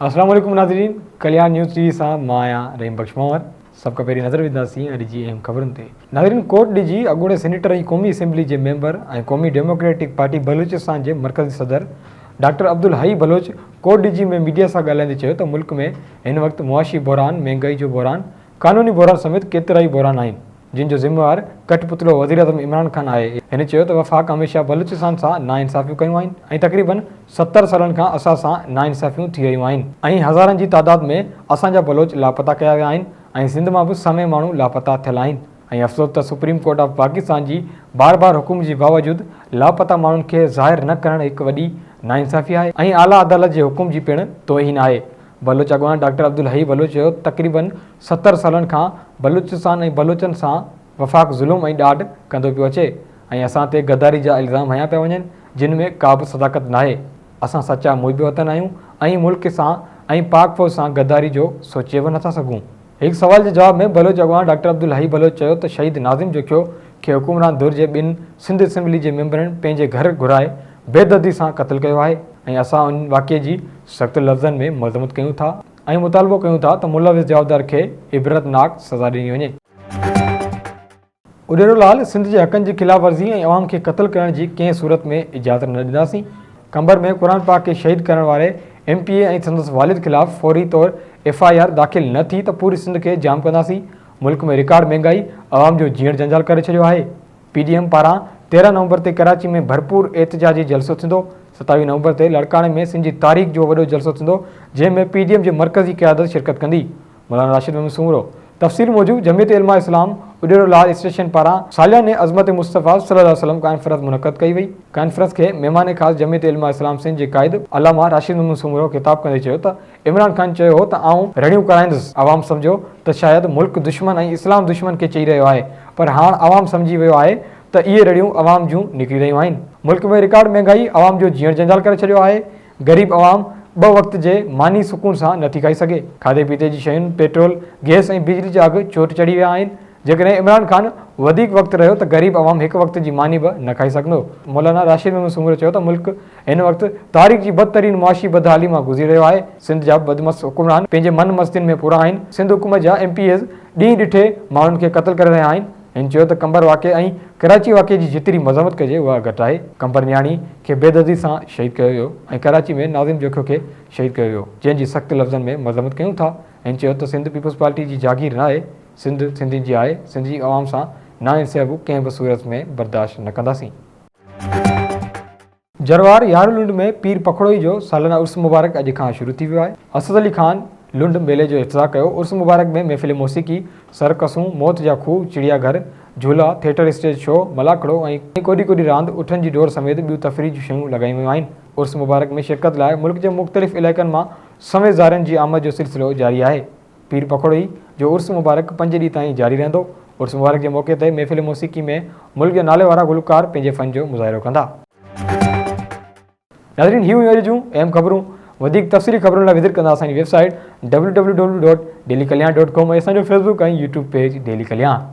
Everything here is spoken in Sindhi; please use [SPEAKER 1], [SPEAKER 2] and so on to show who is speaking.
[SPEAKER 1] السلام عليڪم ناظرين ڪليان نيوز ٽي وي سان مان آهيان رحيم بخش مهور سڀ کان پهرين نظر وجهنداسين اڄ جي اهم خبرن تي ناظرين ڪوٽ ڊي جي اڳوڻي سينيٽر ۽ قومي اسيمبلي جي ميمبر ۽ قومي ڊيموڪريٽڪ پارٽي بلوچستان جي مرڪزي صدر doctor Abdul Hai Baloch Kot Diji ۾ media سان ڳالهائيندي چيو ته ملڪ ۾ هن وقت معاشي بحران مهنگائي جو بحران قانوني بحران سميت ڪيترائي بحران آهن جن جو ذميوار ڪٺ پتلو وزيراعظم عمران خان آهي. هن چيو ته وفاق هميشه بلوچستان سان ناانصافيون ڪيون آهن ۽ تقريبن ستر سالن کان اسان سان ناانصافيون ٿي رهيون آهن ۽ هزارن جي تعداد ۾ اسان جا بلوچ لاپتا ڪيا ويا آهن ۽ سنڌ مان به سوين ماڻهو لاپتا ٿيل آهن ۽ افسوس ته سپريم ڪورٽ آف پاڪستان جي بار بار حڪم جي باوجود لاپتا ماڻهن کي ظاهر نه ڪرڻ هڪ وڏي ناانصافي آهي ۽ اعليٰ عدالت جي حڪم جي پڻ توهين آهي بلوچ اڳواڻ ڊاڪٽر عبدالحئي بلوچ چيو ته تقريبن ستر سالن کان بلوچستان ۽ بلوچن سان وفاق ظلم ۽ ڏاڍ ڪندو پيو اچي ۽ اسان تي غداري جا الزام هنيا پيا وڃن جن ۾ ڪابه صداقت ناهي اسان سچا محب وطن آهيون ۽ ملڪ سان ۽ پاڪ فوج سان غداري جو سوچي به نٿا سگهون. هڪ سوال جي جواب ۾ بلوچ اڳواڻ ڊاڪٽر عبدالحئي بلوچ چيو ته شهيد ناظم جوکيو کي حڪمران ڌر جي ٻن سنڌ اسيمبلي جي ميمبرن پنهنجي گهر گهرائي بيدردي سان قتل ڪيو آهي ۽ اسان ان واقعي جي سخت لفظن ۾ مذمت ڪيون ٿا ۽ مطالبو ڪيون ٿا ته ملوث جوابدار کي عبرتناڪ سزا ڏني وڃي. اڏيرو لال سنڌ جي حقن جي خلاف ورزي ۽ عوام کي قتل ڪرڻ جي ڪنهن صورت ۾ اجازت نه ڏينداسين، قمبر ۾ قرآن پاڪ کي شهيد ڪرڻ واري ايم پي اي ۽ سندس والد خلاف فوري طور ايف آء آر داخل نه ٿي ته پوري سنڌ کي جام ڪنداسين، ملڪ ۾ رڪارڊ مهنگائي عوام جو جيئڻ جنجال ڪري ڇڏيو آهي، پي ڊي ايم پاران تيرهن نومبر تي ڪراچي ۾ ڀرپور احتجاجي جلسو ٿيندو، ستاويهه نومبر تي لاڙڪاڻي ۾ سنڌ جي تاريخ جو وڏو جلسو ٿيندو جنهن ۾ پي ڊي ايم جي مرڪزي قيادت شرڪت ڪندي. مولانا راشد محمد سومرو تفسير موجب جمعيت علماء اسلام اڏيرو لاڙ اسٽيشن پاران سالياني عظمت مصطفيٰ صلي الله عليه وسلم ڪانفرنس منعقد ڪئي وئي ڪانفرنس کي مهمان خاص جمعيت علماء اسلام سنڌ جي قائد علامه راشد محمد سومرو خطاب ڪندي چيو ته عمران خان چيو هو ته آئون رڙيون ڪرائيندس عوام سمجهيو ته شايد ملڪ دشمن ۽ اسلام دشمن کي چئي رهيو آهي پر هاڻ عوام سمجهي ويو آهي ته اهي رڙيون عوام جون نڪري رهيون آهن ملڪ ۾ رڪارڊ مهنگائي عوام جو جيئڻ جنجال ڪري ڇڏيو آهي غريب عوام ٻه وقت جي ماني سڪون سان نٿي کائي سگهي، کاڌي پيتي جي شين، پيٽرول، گيس ۽ بجلي جا اگهه چوٽ چڙهي ويا آهن، جيڪڏهن عمران خان وڌيڪ وقت رهيو ته غريب عوام هڪ وقت جي ماني به نه کائي سگهندو. مولانا راشد محمد سومرو چيو ته ملڪ هن وقت تاريخ جي بدترين معاشي بدحالي مان گذري رهيو آهي، سنڌ جا بدمست حڪمران پنهنجي من مستين ۾ پورا آهن، سنڌ حڪومت جا ايم پي ايز ڏينهن ڏٺي ماڻهن کي قتل ڪري رهيا آهن، هن چيو ته قمبر واقعي ۽ ڪراچي واقعي جي جيتري مذمت ڪجي اها گهٽ آهي، قمبر نياڻي کي بيدردي سان شهيد ڪيو ويو ۽ ڪراچي ۾ ناظم جوکيو کي شهيد ڪيو ويو جنهن جي سخت لفظن ۾ مذمت ڪيون ٿا، هن چيو ته سنڌ پيپلز پارٽي جي جاگير ناهي، سنڌ سنڌين جي آهي، سنڌ جي عوام سان ناانصيابو ڪنهن به صورت ۾ برداشت نه ڪنداسين. جروار يارهن لنڊ ۾ پير پکڙوئي جو سالنه عرس مبارڪ اڄ کان شروع ٿي ويو آهي. اسد علي خان لنڊ ميلي جو افتتاح ڪيو، عرس مبارڪ ۾ محفل موسيقي، سرڪسون، موت جا کوهه، چڙيا گهر، جهولا، ٿيٽر اسٽيج شو، ملاکڙو ۽ ڪوڏي ڪوڏي راند، اٺن جي ڊوڙ سميت ٻيون تفريح جون شيون لڳايون ويون آهن. عرس مبارڪ ۾ شرڪت لاء ملڪ جي مختلف علائقن مان سوين زائرن جي آمد جو سلسلو جاري آهي. پير پکوڙي جو عرس مبارڪ پنج ڏينهن تائين جاري رهندو، عرس مبارڪ جي موقعي تي محفل موسيقي ۾ ملڪ جا ناليوارا گلوڪار پنهنجي فن جو مظاهرو ڪندا. ناظرين هي هيون اڄ جون اهم خبرون وڌيڪ تفصيلي خبرن لاء وزٽ ڪندا اسان جي website W W W dot daily Kalyan dot com ۽ اسان جو facebook ۽ YouTube page daily Kalyan.